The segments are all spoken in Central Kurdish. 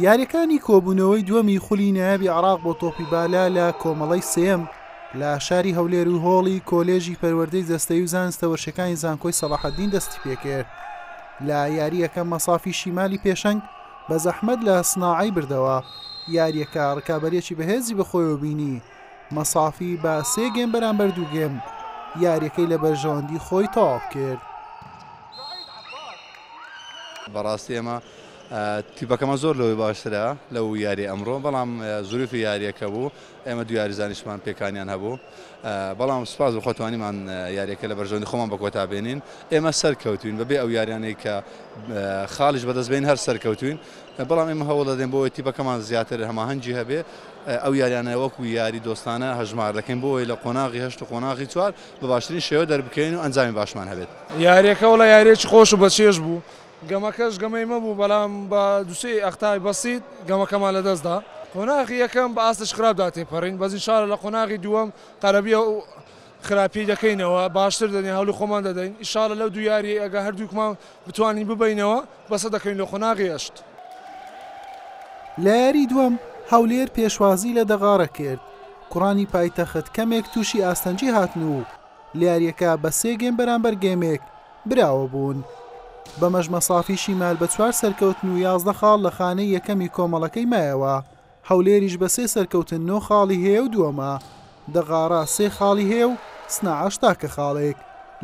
یارییەکانی کۆبوونەوەی دووەمی خولی نایابی عێراق بۆ تۆپی بالا لە کۆمەڵەی سێیەم لە شاری هەولێر و هۆڵی کۆلێژی پەروەردەی جەستەی و زانستە وەشەکانی زانکۆی سەڵاحەدین دەستی پێکرد لە یارییەکە مەسافی شیمالی پێشەنگ بە زەحمەت لە سناعی بردەوە یارییەکە ڕکابەرێکی بەهێزی بەخۆیەوە بینی مەسافی بە سێ گێم بەرامبەر دوو گێم یاریەکەی لە بەرژەوەندی خۆی تەواو کرد. بەڕاستی ئێمە تیپەکەمە زۆر لەوەی باشترە لەو یاری ئەمڕۆ بەڵام زوریفی یاریەکە بوو ئێمە دو یاریزانیشمان پێکانیان هەبوو بەڵام سپاس بخۆتوانیمان یاریەکە لە بەرژەوەندی خۆمان بە کۆتا بێنین ئێمە سەرکەوتوین بەبێ ئەو یاریانەی کە خاڵیش بەدەستبین هەر سەرکەوتوین بەڵام ئێمە هەوڵ دەدەین بۆ تیپەکەمان زیاتر هەماهەنگی هەبێ ئەو یاریانە وەکو یاری دۆستانە هەژمار دەکەین بۆ ئەوەی لە قۆناغی هەشت و قۆناغی چوار بە باشترین شێوە دەربکەوین و ئەنجامی باشمان هەبێت. یاریەکە وەڵا یاریەکی خۆش و بەچێژ بوو گەمەکەش گەمەی مەبوو بەڵام بە دوو سێ ئەختای بەسیت گەمەکەمان لەدەست دا قۆناغی یەکەم بە ئاستێکی خراپدا تێپەرین بەس ان شاء اللە لە قۆناغی دووەم قەرەبیە و خراپی دەکەینەوە باشتر دەنێ هەولی خۆمان دەدەین ئیشاڵە لەو دوو یاریەی ئەگە هەردووکمان بتوانین ببەینەوە بەسە دەکەین لۆ قۆناغی ئەشت. لە یاری دووەم هەولێر پێشوازی لە دەغاڕە کرد کوڕانی پایتەخت کەمێک تووشی ئاستەنگی هاتن و لە یاریەکە بە سێ گێم بەرامبەر گێمێک براوە بوون بەمەش مەسافی شیمال بە چوار سەرکەوتن و یازدە خاڵ لە خانەی یەکەمی کۆمەڵەکەی مایەوە. هەولێریش بە سێ سەرکەوتن نۆ خاڵی هەیە و دووەمە، دەغاڕا سێ خاڵی هەیە و سناعەش تاکە خاڵێک،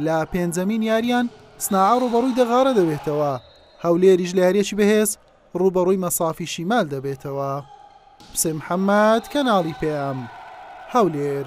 لە پێنجەمین یارییان سناعە ڕووبەڕووی دەغاڕە دەبێتەوە، هەولێریش لە یارییەکی بەهێز ڕووبەڕووی مەسافی شیمال دەبێتەوە. حوسێن محەممەد، کەناڵی پەیام، هەولێر.